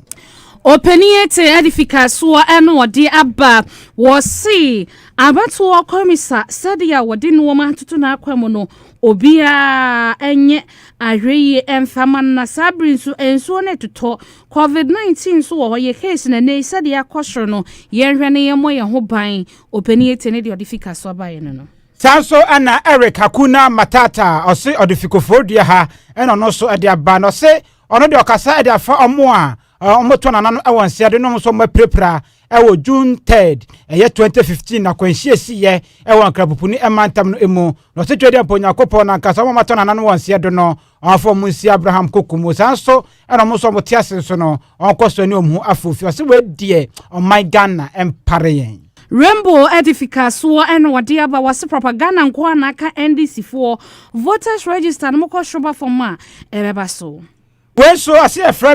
ɔpanin ete adifika soɔ ɛna ɔde aba wɔse abatoɔ kɔmisa sɛdeɛ wɔde nnoɔma atoto n'akwa mu no Obiara nyɛ ahwɛyie mfa ma no na saa bere nso nsuo no retotɔ. Covid 19 nso wɔ hɔ, yɛ case no ɛnnɛ yi sɛdeɛ akɔ soro no, yɛnhwɛ na yɛmmɔ yɛn ho ban. Opanin Etie ne deɛ ɔde fi Kasoa baeɛ no no. Saa nso na Eric Akuna Matata a ɔse ɔde fi Koforidua ha na ɔno nso de aba na ɔse ɔno deɛ ɔkasa de afa wɔn a Wɔbɛtɔ n'anano wɔ nseɛ de nom nso wɔapirapira wɔ June 3rd, ɛyɛ 2015 na kwanhyia siiɛ wɔ Nkrapopuni mantam no mu. Na ɔse Twɛdeɛ mpo Onyankopɔn no ankasa wɔn a wɔatɔ n'anano wɔ nseɛ do no, ɔmfa wɔn nsi Abraham koku mu. Saa nso na wɔn nso wɔte ase nso no, wɔnkɔ so ne wɔn ho afoofi. Ɔse wei deɛ ɔman Ghana mpare yɛn. Rainbow de fikaasoɔ na wɔde aba, wɔse propaganda nko ara na aka NDC foɔ, voters register no mokɔ shroba fam a ɛbɛba so. Wei nso ɔse yɛfrɛ me.